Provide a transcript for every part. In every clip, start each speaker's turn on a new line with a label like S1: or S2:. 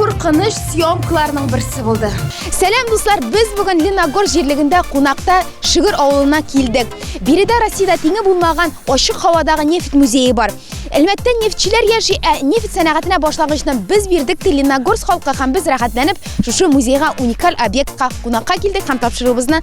S1: куркыныч съемкаларның берсе булды. Сәлам дуслар, без бүген Леногор җирлегендә кунакта Шигыр авылына килдек. Биредә Россиядә тиңе булмаган ачык һавадагы нефть музее бар. Әлбәттә, нефтьчеләр яши, ә нефть сәнәгатенә башлангычны без бирдек те Леногорск халкы һәм без рәхәтләнеп шушы музейга уникаль объектка кунакка килдек һәм тапшыруыбызны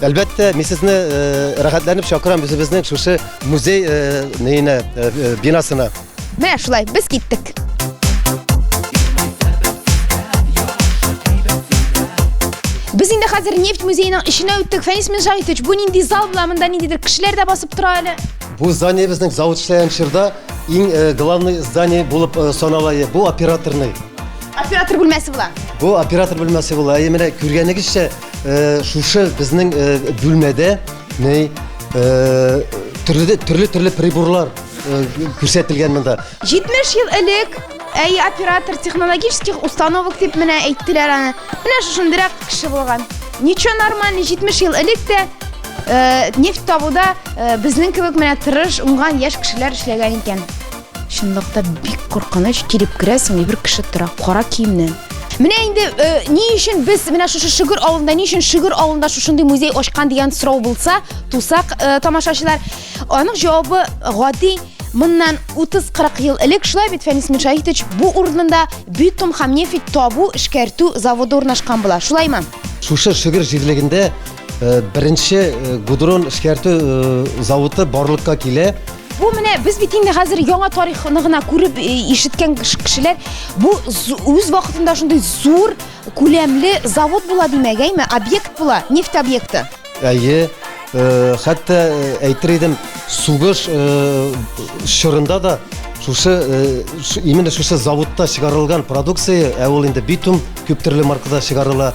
S1: Әлбәттә, мин
S2: сезне э, рәхәтләнеп чакырам үзебезнең шушы музей э, нейне, э, э, бинасына. Менә шулай, без
S1: киттек. Без инде хәзер нефть музееның эченә үттек. Фәнис Минжаевич, бу нинди зал була? Монда ниндидер кешеләр дә басып тора әле. Бу здание безнең
S2: завод эшләгән чорда иң э, главный здание булып э, санала. Е, Бу операторный. Оператор
S1: бүлмәсе була. Бу оператор бүлмәсе
S2: була. Әйе, менә күргәнегезчә, Шушы безнең бүлмәдә ней төрле-төрле приборлар күрсәтелгән монда. 70 ел элек
S1: әй оператор технологических установок дип менә әйттеләр аны. Менә шушындырак кеше булган. Ничо нормально 70 ел элек тә нефть табуда безнең кебек менә тырыш, уңган яшь кешеләр эшләгән икән. Чынлыкта бик куркыныч, килеп керәсең, и бер кеше тора, кара киемнән. Менә инде э, ни өчен без менә шушы Шөгер авылында, ни өчен Шөгер авылында шушындый музей ачкан дигән сорау булса, тусак э, тамашачылар, аның җавабы гади Моннан 30-40 ел элек шулай бит Фәнис Миршаһитович бу урынында битум һәм нефть табу, эшкәртү заводы урнашкан була. Шулаймы? Шушы Шөгер
S2: җирлегендә Э, беренче э, гудрон эшкәртү э, заводы барлыкка килә бу менә без
S1: бит инде хәзер яңа тарихны гына күреп ишеткән кешеләр бу үз вакытында шундый зур күләмле завод була димәк әйме объект була нефть объекты әйе
S2: хәтта әйтер идем сугыш чорында да шушы именно шушы заводта чыгарылган продукция ә ул инде битум күп төрле маркада чыгарыла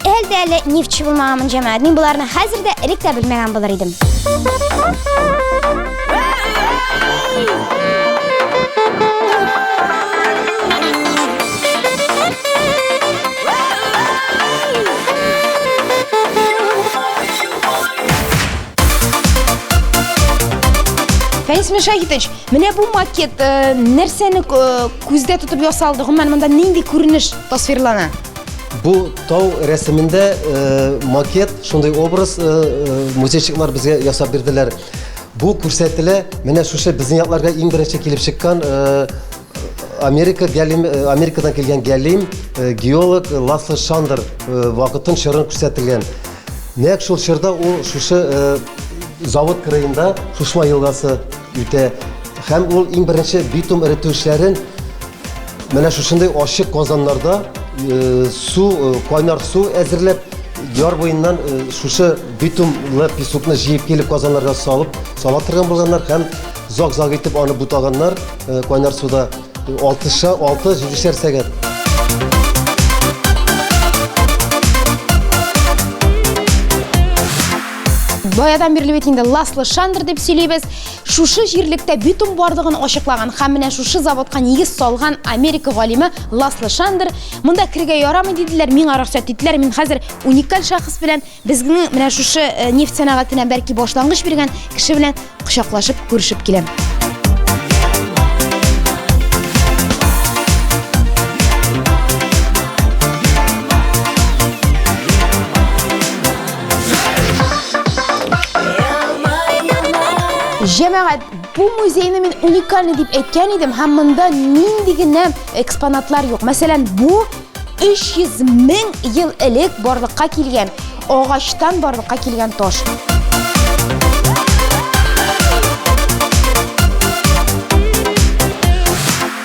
S3: Әле дә әле нефтьче булмаган мунҗа мәгәд. Мин боларны хәзер дә элек тә белмәгән булыр идем.
S1: Фәнис Мишахитович, менә бу макет э, нәрсәне э, күздә тотып ясалды? Гомумән, монда нинди күренеш тасвирлана? Бу
S2: тау рәсемендә э, макет, шундый образ э, э, музейчиклар безгә ясап бирделәр. Бу күрсәтелә, менә шушы безнең якларга иң беренче килеп чыккан Америка гәлим, Америкадан килгән гәлим геолог Ласло Шандер вакытын чорын күрсәтелгән. Нәк шул чорда ул шушы завод кырыенда Шушма елгасы үтә һәм ул иң беренче битум эретү эшләрен Менә шушындый ачык казаннарда э, су, э, кайнар су әзерләп, яр буеннан э, шушы битумлы песокны җыеп килеп казаннарга салып, сала торган булганнар һәм зак-зак итеп аны бутаганнар кайнар суда 6-7 сәгать.
S1: Баядан бирле бит инде ласлы шандыр дип сөйлибез. Шушы җирлектә битум барлыгын ачыклаган һәм менә шушы заводка нигез салган Америка галиме Ласло Шандер, монда керергә ярамый диделәр, миңа рөхсәт иттеләр, мин хәзер уникаль шәхес белән, безгенең менә шушы э, нефть сәнәгатенә бәлки башлангыч биргән кеше белән кочаклашып күрешеп киләм. Җәмәгать, бу музейны мин уникальный дип әйткән идем, һәм монда нинди генә экспонатлар юк. Мәсәлән, бу 300 мең ел элек барлыкка килгән, агачтан барлыкка килгән таш.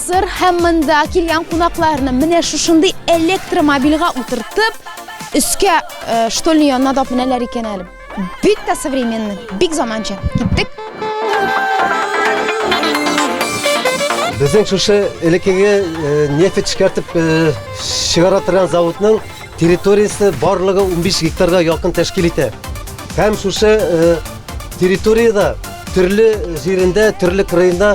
S1: Сыр һәм монда килгән кунакларны менә шушындый электромобильга утыртып, өскә э, штольный янына да менәләр икән әле. Бик тә современный, бик заманча. Киттек.
S2: Безнең шушы элеккеге э, нефть эшкәртеп э, чыгара торган заводның Территориясе барлыгы 15 гектарга якын тәшкил итә. Һәм шушы э, территориядә төрле җирендә, төрле кырыенда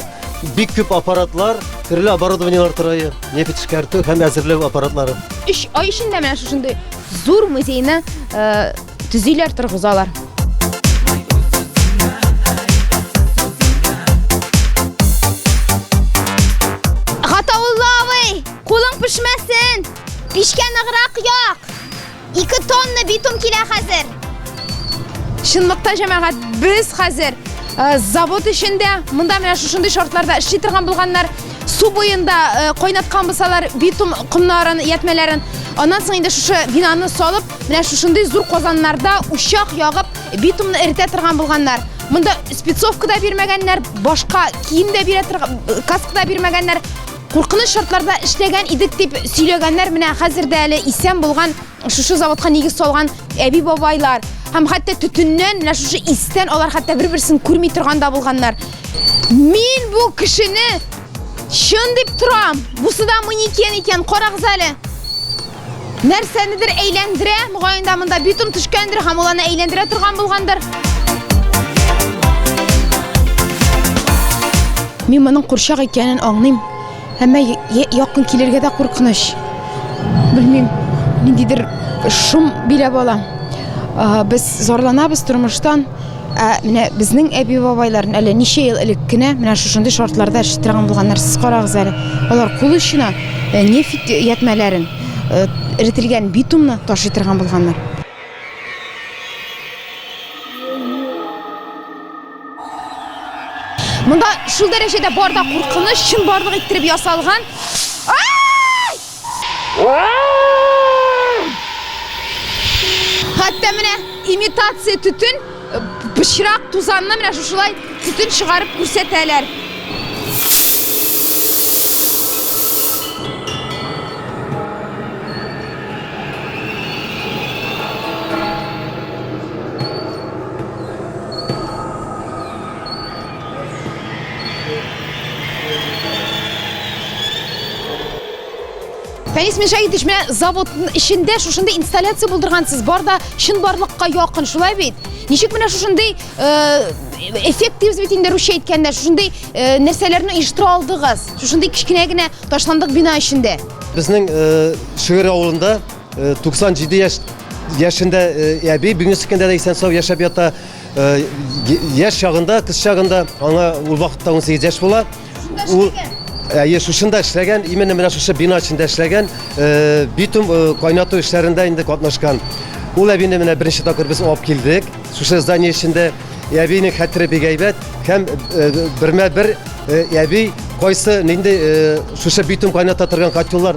S2: бик күп аппаратлар, төрле оборудованиелар торайы, нефть эшкәртү һәм әзерләү аппаратлары. Өч ай эчендә
S1: менә шушындый зур музейны э, төзиләр, торгызалар. Пишкә ныграк як. 2 тонна битум килә хәзер. Чынлыкта җәмәгать, без хәзер э, завод эчендә, монда менә шушындый шартларда эшли торган булганнар. Су буенда э, кайнаткан булсалар битум комнарын, ятмәләрен, аннан соң инде шушы бинаны салып, менә шушындый зур казаннарда учак ягып, битумны эретә торган булганнар. Монда спецовка да бирмәгәннәр, башка кием дә бирә торган, э, каска да бирмәгәннәр. Куркыныч шартларда эшләгән идек дип сөйләгәннәр менә хәзер дә әле исән булган шушы заводка нигез салган әби бабайлар һәм хәтта төтеннән менә шушы истән алар хәтта бер берсен күрми торганда булганнар мин бу кешене чын дип торам бусы да манекен икән карагыз әле Нәрсәнедер әйләндерә, мөгаен дә монда битум төшкәндер һәм ул аны әйләндерә торган булгандыр. Мин моның курчак икәнен аңлыйм. Әмма якын килергә дә куркыныч. Белмим, ниндидер шум биләп ала. Без зарланабыз тормыштан. Ә менә безнең әби-бабайларын әле ничә ел элек кенә менә шушындый шартларда эшли торган булганнар. Сез карагыз әле. Алар кул очына э, нефть ятмәләрен, э, эретелгән битумны ташый торган булганнар. Монда шул дәрәҗәдә бар да куркыныч, чынбарлык иттереп ясалган. Хәтта менә имитация төтен пычрак тузанны менә шушылай төтен чыгарып күрсәтәләр. Фәнис Миша итешмә завод эчендә шушында инсталляция булдыргансыз. Бар да чын барлыкка якын, шулай бит? Ничек менә шушындый э, эффект дибез бит инде русча әйткәндә, шушындый э, нәрсәләрне оештыра алдыгыз? Шушындый кечкенә генә ташландык бина эчендә. Безнең
S2: э, Шигырь авылында 97 яшь яшендә әби, бүгенге көндә дә исән-сау яшәп ята. Яш чагында, кыз чагында, аңа ул вакытта 18 яшь була. Ул Әйе, шушында эшләгән, именно менә шушы бина эчендә эшләгән, битум кайнату эшләрендә инде катнашкан. Ул әбине менә беренче тапкыр без алып килдек. Шушы здание эчендә әбинең хәтере бик әйбәт һәм бермә-бер әби кайсы нинди шушы битум кайната торган котеллар